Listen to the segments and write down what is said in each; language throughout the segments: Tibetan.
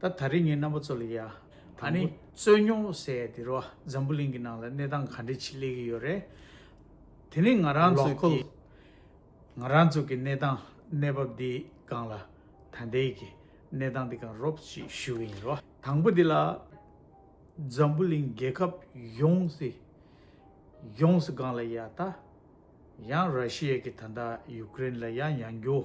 ད་ད་རེས་ངའི་རྣམ་པ་ཚོ་ལ་ཡ། ད་ནི་རྩོད་རྙོག་ཟེར་ཡ་དེ་རུ་འཛམ་བུ་གླིང་གི་ནང་ལ་གནས་སྟངས་ག་འདྲས་ཆེ་སླེབས་ཀྱི་ཡོད་རེད། དེ་ནི་ང་རང་ཚོ་ཀྱི། ང་རང་ཚོ་ཀྱི་གནས་སྟངས་གནས་བབ་འདི་སྒང་ལ་ད་ལྟའི་ཀྱི་གནས་སྟངས་འདི་སྒང་རོབ་ཅིག་ཞུ་གི་ཡིན་རོ། དང་པོ་འདི་ལ། འཛམ་བུ་གླིང་རྒྱལ་ཁབ་ཡོངས་སི། ཡོངས་སི་སྒང་ལ་ཡ་ད། ཡང་ར་ཤི་ཡ་ཀྱི་ད་ད་ཡུ་ཀི་རེན་ལ་ཡ་ཡང་རྒྱུ།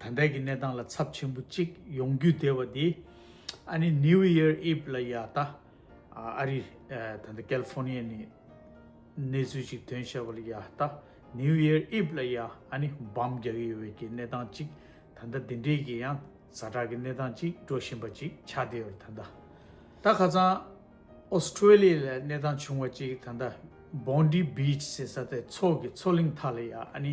ད་ལྟའི་གི་གནས་སྟངས་ལ་ཚབ་ཆེན་པོ་གཅིག་ཡོང་རྒྱུ་དེ་བ་དེ་ཨ་ནི New Year Eve ལ་ཡ་ད་ཨ་རི་ད་ལྟ California ནི་གནས་ཚུལ་གཅིག་དོན་བྱས་པ་ལ་ཡ་ད New Year Eve ལ་ཡ་ཨ་ནི་འབམ་རྒྱག་གི་ཡོད་བའི་གི་གནས་སྟངས་གཅིག་ད་ལྟ་དེ་འདྲའི་གི་ཡང་ཟ་འདྲ་གི་གནས་སྟངས་གཅིག་འགྲོ་བཞིན་པ་གཅིག་ཆགས་བསྡད་ཡོད་རེད་ད་ལྟ་ད་ཁ་ཚང Australia ལ་གནས་སྟངས་བྱུང་བ་གཅིག་ད་ལྟ Bondi Beach ཟེར་ས་དེ་མཚོ་གི་མཚོ་གླིང་མཐའ་ལ་ཡ་ཨ་ནི།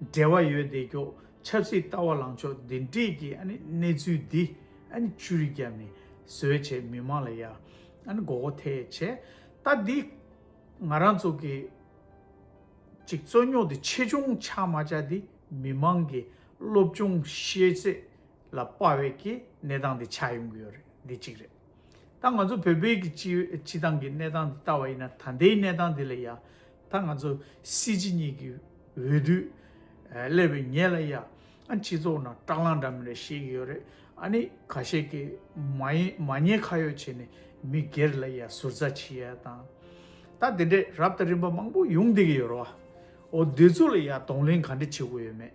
འབྲེལ་བ་ཡོད་བདེ་མཆོག་ཆབ་སྲིད་ལྟ་བ་ལངས་ཕྱོགས་འདི་འདྲིས་ཀྱི་གནས་ཚུལ་འདི་བཅུར་རྒྱབ་ནས་བཟོས་བྱས་མི་མང་ལ་ཡ་མགོ་བོ་ཐད་ཆེ་ལྟ་འདི་ང་རང་ཚོ་གི་ཅིག་རྩོད་རྙོག་འདི་ཆེ་ཆུང་ཆ་མ་ཆ་འདི་མི་མང་གི་སློབ་སྦྱོང་ཤེས་ཚད་ལ་དཔའ་བའི་གི་གནས་སྟངས་འདི་ཆགས་ཡོང་གི་ཡོད་རེད་འདི་གཅིག་རེད། ད་ང་ཚོ་བོད་པའི་སྤྱི་བཏང་གི་གནས་སྟངས་འདི་ལྟ་བ་ཡིན་ན་ད་ལྟའི་གནས་སྟངས་འདི་ལ་ཡ་ད་ང་ཚོ་སྲིད་སྤྱི་གཉིས་ཀྱི་འོས་བསྡུ་སླེབས་པའི་ཉེ་ལ་ཡ་ཨ་སྤྱི་ཚོགས་ནང་སྐྲག་ལངས་འདྲ་མིན་རེ་བཤད་ཀྱི་ཡོད་རེད་ཨ་ནི་ག་ཤེད་ཀྱི་མ་ཡིན་མ་ཉེས་ཁ་ཡོད་བྱས་ནས་མི་སྒེར་ལ་ཡ་ཟུར་ཟ་བྱེད་ཡ་དང་ད་དེ་འདྲས་རབ་དང་རིམ་པ་མང་པོ་ཡོང་བསྡད་ཀྱི་ཡོད་རེད་བ་འོ་དེ་ཚོ་ལ་ཡ་གདོང་ལེན་ག་འདྲས་བྱེད་དགོས་ཡོད་མེད།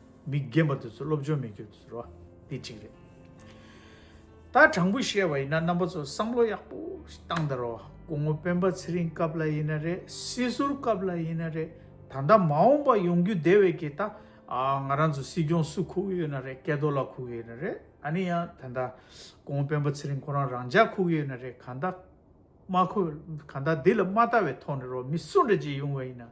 མི་རྒན་པ་དེ་ཚོ་སློབ་སྦྱོང་མི་རྒྱུག་དེ་ཚོ་རེད་བ། འདི་གཅིག་རེད། ད་དྲང་པོ་བཤད་བ་ཡིན་ན་རྣམ་པ་ཚོ་བསམ་བློ་ཡག་པོ་ཞིག་བཏང་དང་རོགས་སྐུ་ངོ་སྤེན་པ་ཚེ་རིང་སྐབས་ལ་ཡིན་ན་རེད་སྲིད་ཟུར་སྐབས་ལ་ཡིན་ན་རེད་ད་ལྟ་མ་འོངས་པ་ཡོང་རྒྱུ་དེ་བས་ཀྱི་ད་ང་རང་ཚོ་སྲིད་སྐྱོང་སུ་ཁུག་ཡོད་ན་རེད་སྐལ་རྡོར་ལགས་ཁུག་ཡོད་ན་རེད་ད་ནི་ཡང་ད་ལྟ་སྐུ་ངོ་སྤེན་པ་ཚེ་རིང་ཁོ་རང་རང་འཇགས་ཁུག་ཡོད་ན་རེད་གང་ལྟ་མ་ཁུག་གང་ལྟ་འདི་ལ་མ་ལྟ་བའི་ཐོག་ནས་རོགས་མི་སུ་འདྲ་ཅིག་ཡོང་བ་ཡིན་ན།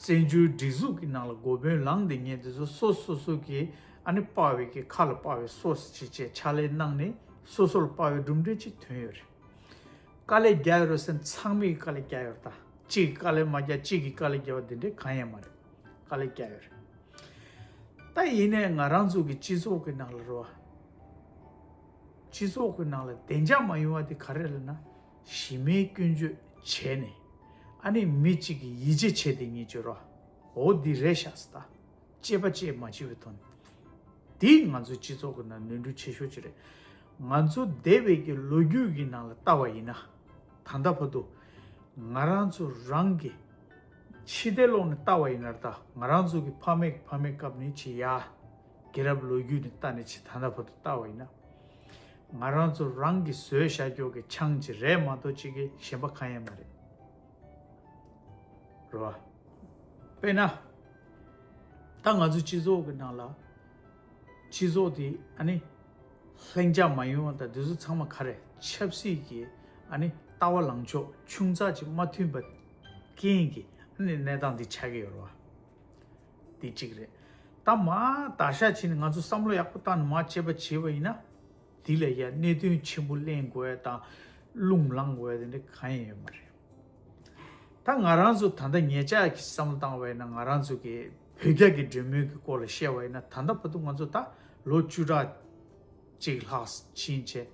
བཙན་བྱོལ་སྒྲིག་འཛུགས་ཀྱི་ནང་ལ་འགོ་དཔོན་ལངས་ཏེ་ངས་འདི་ཚོ་སོ་སོ་སོ་གི་ཨ་ནེ་དཔའ་བོའི་གི་ཁ་ལ་དཔའ་བོའི་སོ་སི་བྱེད་ཅེས་ཕྱག་ལས་གནང་ནས་སོ་སོ་ལ་དཔའ་བོའི་གྲུབ་འབྲས་ཅིག་ཐོན་ཡོད་རེད། དཀའ་ལས་རྒྱག་ཡོད་རེད་སེམས་ཚང་མས་དཀའ་ལས་རྒྱག་ཡོད་རེད་ད། གཅིག་གིས་དཀའ་ལས་མ་རྒྱག་གཅིག་གིས་དཀའ་ལས་རྒྱག་པ་དེ་འདྲའི་གང་ཡང་མ་རེད། དཀའ་ལས་རྒྱག་ཡོད་རེད། ད་ཡིན་ནས་ང་རང་ཚོ་གི་སྤྱི་ཚོགས་ཀྱི་ནང་ལ་རོ། སྤྱི་ཚོགས་ཀྱི་ནང་ལ་བདེ་འཇགས་མ་ཡོང་བ་དེ་ག་རེ་རེད་ན། གཞི་མེད་སྐྱོན་བརྗོད་བྱས་ནས། ཨ་ནི་མི་གཅིག་གི་ཡིད་ཇེ་ཆེ་དེ་ཉིད་བྱོས་རོགས། འོ་འདི་རེད་ཤག་སི་ད། ཅེས་པ་ཅེས་མ་བྱི་བའི་དོན། འདིས་ང་ཚོའི་སྤྱི་ཚོགས་ཀྱི་ནང་ནོན་འཁྲུལ་ཆེ་ཤོས་ཅིག་རེད། ང་ཚོ་འདས་བེད་ཀྱི་ལོ་རྒྱུས་ཀྱི་ནང་ལ་བལྟ་བ་ཡིན་ན། ད་ལྟ་བར་དུ། ང་རང་ཚོ་རང་གི། ཕྱི་བལྟས་ལོག་ནས་བལྟ་བ་ཡིན་ནར་ད་ང་རང་ཚོ་གི་ཕ་མེས་ཀྱི་ཕ་མེས་སྐབས་ནས་ཇི་ཡ། རྒྱལ་རབས་ལོ་རྒྱུས་ནས་བལྟ་ནས་ཇི་ད་ད་བར་དུ་བལྟ་བ་ཡིན་ན། ང་རང་ཚོ་རང་གི་བཟོས་ཤ་རྒྱོག་གི་ཆང་གཅིག་རལ་མ་ཏོ་གཅིག་གིས་གཞན་པ་གང་ཡང་མ་རེད་རེད་བ། དཔེར་ན། ད་ང་ཚོའི་སྤྱི་ཚོགས་ཀྱི་ནང་ལ། སྤྱི་ཚོགས་དེ་ཨ་ནི། ལྷིང་འཇགས་མ་ཡིན་བ་དང་དེ་ཚོ་ཚང་མ་ག་རེ་ཆབ་སྲིད་ཀྱི་ཨ་ནི་ལྟ་བ་ལངས་ཕྱོགས་ཆུང་ཚགས་ཅིག་མ་མཐུན་པ་རྐྱེན་གྱིས་ཨ་ནི་གནས་སྟངས་འདི་ཆགས་ཀྱི་ཡོད་རེད་བ། དེ་གཅིག་རེད། ད་མ་ད་ཤ་བྱས་ནས་ང་ཚོ་བསམ་བློ་ཡག་པོ་བཏང་ནས་མ་བྱས་པ་བྱས་པ་ཡིན་ན། དེ་ལས་ཀྱང་གནད་དོན་ཆེན་པོ་གླེང་དགོས་ཡ་དང་རླུང་བསླང་དགོས་ཡ་དེ་འདྲ་གང་ཡང་ཡོད་མ་རེད། ད་ང་རང་ཚོ་ད་ལྟ་ངེད་ཅག་གིས་བསམ་བློ་བཏང་བ་ཡིན་ན་ང་རང་ཚོ་གིས་བོད་རྒྱ་གི་འབྲེལ་མོལ་གྱི་སྐོར་ལ་བཤད་པ་ཡིན་ན་ད་ལྟ་བར་དུ་ང་ཚོ་ད་ལོ་བཅུ་ཕྲག་གཅིག་ལྷག་ཕྱིན་ཆད་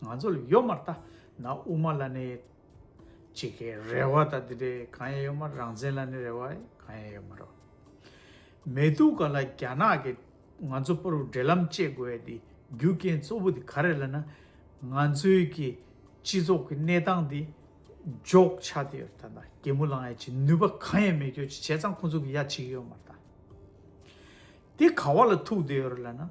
ང་ཚོ་ལ་ཡོད་མ་རེད་ད་ན་དབུ་མ་ལ་ནས། གཅིག་གི་རེ་བ་དང་དེ་འདྲའི་གང་ཡང་ཡོད་མ་རེད་རང་བཙན་ལ་ནི་རེ་བ་གང་ཡང་ཡོད་མ་རེད། མེད་འདུག་ག་ལ་རྒྱ་ནག་གི་ང་ཚོ་པོར་འབྲེལ་ལམ་བཅད་དགོས་ཡ་དེ་རྒྱུ་རྐྱེན་གཙོ་བོ་དེ་ག་རེད་ལ་ན། ང་ཚོའི་གི་སྤྱི་ཚོགས་ཀྱི་གནས་སྟངས་དེ་འཇོག་ཆགས་ཏེ་ཡོད་ད་ད་གད་མོ་ལངས་ཡ་ཆེ་ནུས་པ་གང་ཡང་མེད་ཁྱོད་ཀྱི་བྱས་ཙང་ཁོང་ཚོ་གི་ཡ་བྱེད་ཀྱི་ཡོད་མ་རེད་ད། དེ་ག་བ་ལ་ཐུག་བསྡད་ཡོད་རེད་ལ་ན།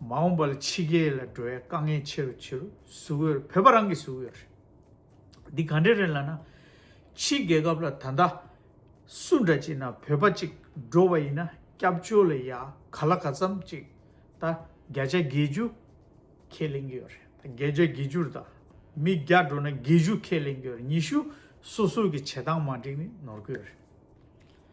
མ་འོངས་པ་ལ་ཕྱི་རྒྱལ་ལ་འགྲོ་བའི་དཀའ་ངལ་ཆེ་རུ་ཆེ་རུ་ཟུག་ཡོད་རེད་བོད་པ་རང་གིས་ཟུག་ཡོད་རེད། འདི་ག་འདྲ་རེད་ལ་ན། ཕྱི་རྒྱལ་ཁབ་ལ་ད་ལྟ་སུ་འདྲ་བྱས་ན་བོད་པ་གཅིག་འགྲོ་བ་ཡིན་ན་སྐྱབས་བཅོལ་ལ་ཡ་ག་ལ་ག་ཙམ་གཅིག་ད་བརྒྱ་ཆ་བརྒྱད་ཅུ་ཁས་ལེན་གྱི་ཡོད་རེད་ད་བརྒྱ་ཆ་བརྒྱད་ཅུར་ད་མི་བརྒྱ་འགྲོ་ན་བརྒྱད་ཅུ་ཁས་ལེན་གྱི་ཡོད་རེད་ཉི་ཤུ་སོ་སོ་གི་བྱེད་སྟངས་མ་འགྲིག་ནི་ནོར་གི་ཡོད་རེད།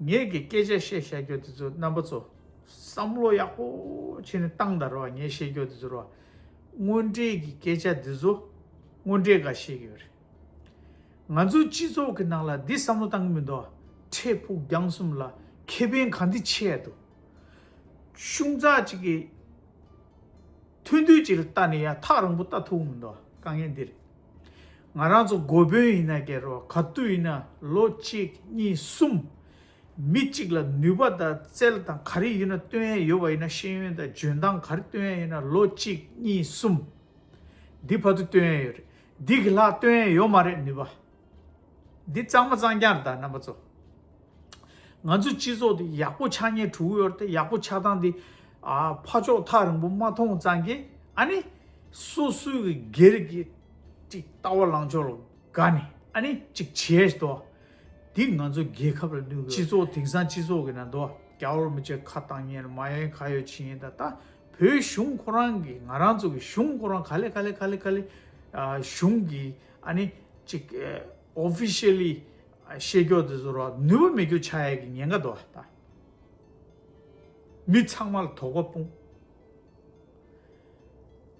ངེད་ཀྱི་སྐད་ཆ་བཤད་བཤད་རྒྱོ་དེ་ཚོ་རྣམ་པ་ཚོ་བསམ་བློ་ཡག་པོ་བྱེད་ནས་གཏང་ད་རོགས་ངས་བཤད་རྒྱོ་དེ་ཚོ་རོགས་དངོས་འབྲེལ་གྱི་སྐད་ཆ་དེ་ཚོ་དངོས་འབྲེལ་ག་བཤད་ཀྱི་ཡོད་རེད་ང་ཚོའི་སྤྱི་ཚོགས་ཀྱི་ནང་ལ་འདི་བསམ་བློ་གཏང་གི་མི་འདུག་འཕྲལ་ཕུགས་རྒྱང་གསུམ་ལ་ཁེ་ཕན་ག་འདི་ཆེ་ཡ་འདུག་གཞུང་ཚགས་གཅིག་གི་མཐུན་འདུས་གཅིག་ལ་ལྟ་ནས་ཡ་ཐག་རང་པོ་ལྟ་ཐུབ་གི་མི་འདུག་དཀའ་ངལ་འདི་རེད། ང་རང་ཚོ་འགོ་དཔོན་ཡིན་ན་སྒེར་རོ་ག་དུས་ཡིན་ན་ལོ་གཅིག་གཉིས་གསུམ། མི་གཅིག་ལ་ནུས་པ་དང་རྩལ་དང་ག་རེ་ཡོད་ན་སྟོན་ཡས་ཡོད་པ་ཡིན་ན་ཤེས་ཡོན་དང་འཇོན་ཐང་ག་རེ་སྟོན་ཡས་ཡོད་ན་ལོ་གཅིག་གཉིས་གསུམ། འདི་བར་དུ་སྟོན་ཡས་ཡོད་རེད་འདི་གི་ལྷག་སྟོན་ཡས་ཡོད་མ་རེད་ནུས་པ། འདི་གཙང་མ་གཙང་རྐྱང་རེད་ད་རྣམ་པ་ཚོ། ང་ཚོའི་སྤྱི་ཚོགས་འདི་ཡག་པོ་ཆགས་ཉེར་དྲུག་ཡོད་རེད་ཡག་པོ་ཆགས་སྟངས་འདི། ཕ་ཕྱོགས་ཐག་རིང་པོ་མ་མཐོང་ཙང་གི་ཨ་ནི། སོ་སོའི་སྒེར་གྱི། ཅིག་ལྟ་བ་ལང་ཕྱོགས་ལ་དགའ་ནས་ཨ་ནི་ཅིག་བྱས་དོ། འདི་ང་ཚོ་རྒྱལ་ཁབ་ལ་ནུས་སྤྱི་ཚོགས་དེང་སང་སྤྱི་ཚོགས་ཀྱི་ནང་དུ་རྒྱ་བོར་མི་བྱེད་ཁ་བཏང་ཉེར་མ་ཡན་ག་ཡོད་ཕྱིན་ཡིན་ད་ལྟ་བོད་གཞུང་ཁོ་རང་གི་ང་རང་ཚོ་གི་གཞུང་ཁོ་རང་ག་ལེ་ག་ལེ་ག་ལེ་ག་ལེ་གཞུང་གི་ཨ་ནི་ཅིག Officially བཤད་རྒྱོགས་དེ་ཚོ་ར་ནུས་པ་མེད་རྒྱུ་ཆ་ཡས་ཀྱི་ཉེན་ཁ་དོ་ད་མི་ཚང་མ་ལ་དོགས་པ་སྤུངས།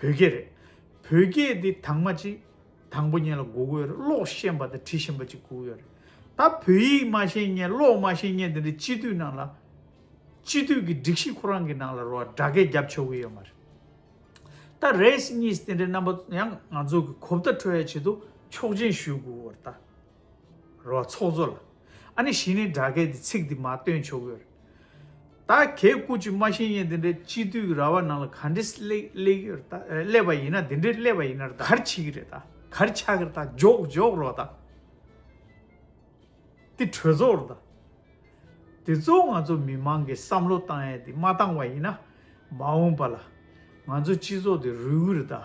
བོད་སྐད་རེད། བོད་སྐད་འདི་དྭངས་མ་གཅིག། དང་པོ་ཉན་ལ་སྒུག་གི་ཡོད་རེད་ཀློག་ཤེས་པ་དང་བྲི་ཤེས་པ་གཅིག་སྒུག་ཡོད་རེད། ད་བོད་ཡིག་མ་ཤེས་ཉན་ཀློག་མ་ཤེས་ཉན་དེ་འདྲའི་སྤྱི་འཐུས་ནང་ལ། སྤྱི་འཐུས་ཀྱི་སྒྲིག་གཞི་ཁོ་རང་གི་ནང་ལ་རོ་སྒྲ་སྐད་བརྒྱབ་ཆོག་གི་ཡོད་མ་རེད། ད་རེས་གཉིས་དེ་འདྲའི་རྣམ་པ་ཡང་ང་ཚོ་གི་གོ་བརྡ་འཕྲོད་ཡ་བྱེད་དུ་ཆོག་མཆན་ཞུས་དགོས་རེད་ད། རོ་བ་ཚོགས་གཙོ་ལ། ཨ་ནི་གཞི་ནས་སྦྲགས་སྐད་དེ་ཚིག་འདི་མ་བཏོན་ཆོག་གི། ད་གེ་སྐུ་ཅི་སྨྲ་ཤེས་ཡན་དེ་འདྲའི་སྤྱི་འཐུས་ར་བ་ནང་ལ་ག་འདྲི་སླེབས་པ་ཡིན་ན་དེ་འདྲི་སླེབས་པ་ཡིན་ན་གར་འཆི་གི་རེད་ད་གར་ཆག་གི་རེད་ད་འཇོག་འཇོག་རོགས་ད། དེ་གྲོས་ཚོགས་རེད་ད། དེ་ཚོ་ང་ཚོ་མི་མང་གི་བསམ་བློ་བཏང་ཡས་དེ་མ་བཏང་བ་ཡིན་ན་མ་འོངས་པ་ལ་ང་ཚོ་སྤྱི་ཚོགས་དེ་རུལ་གི་རེད་ད།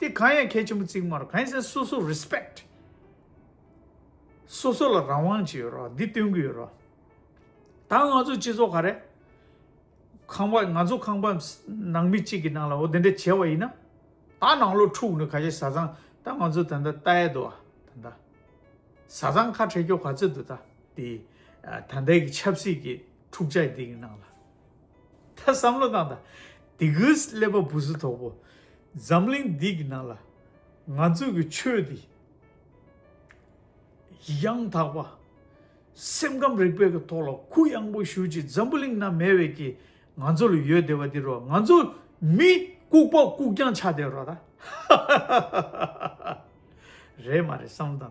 དེ་གང་ཡང་གལ་ཆེན་པོ་བརྩིགས་མ་རུང་གང་ཡིན་ཟེར་ན་སོ་སོ Respect། སོ་སོ་ལ་རང་དབང་ཅིག་ཡོད་རོགས་འདི་སྟོན་གི་ཡོད་རོགས། ད་ང་ཚོ་སྤྱི་ཚོགས་ག་རེ། ཁང་པ་ང་ཚོ་ཁང་པ་ནང་མི་གཅིག་གི་ནང་ལ་འོ་དེ་འདྲ་བྱས་བ་ཡིན་ན། ད་ནང་ལོག་འཁྲུག་ནས་ག་རེ་བཟའ་ཚང་ད་ང་ཚོ་ད་ལྟ་ལྟ་ཡས་འདུག་ཨ་ད་ལྟ། བཟའ་ཚང་ཁ་བྲལ་སྐྱོ་ག་ཚོད་འདུག་ད་འདི་ད་ལྟའི་ཆབ་སྲིད་ཀྱི་འཁྲུག་ཆ་འདི་གི་ནང་ལ། ད་བསམ་བློ་བཏང་དང། དེ་གའི་ཀླད་པ་བུ་ཟུ་དོག་པོ། འཛམ་གླིང་འདི་གི་ནང་ལ། ང་ཚོ་གི་ཆོས་འདི། ཡང་དག་པ། སེམས་ཁམས་རིག་པའི་གི་ཐོག་ལ་གུ་གཡང་པོ་ཞུ་ཅིག་འཛམ་བུ་གླིང་ན་མེད་བའི་གི། ང་ཚོ་ལ་ཡོད་བདེ་བ་འདི་རོ་ང་ཚོ། མི་ལྐུག་པ་ལྐུག་རྐྱང་ཆགས་བསྡད་རོགས་ད། ཧཧཧ།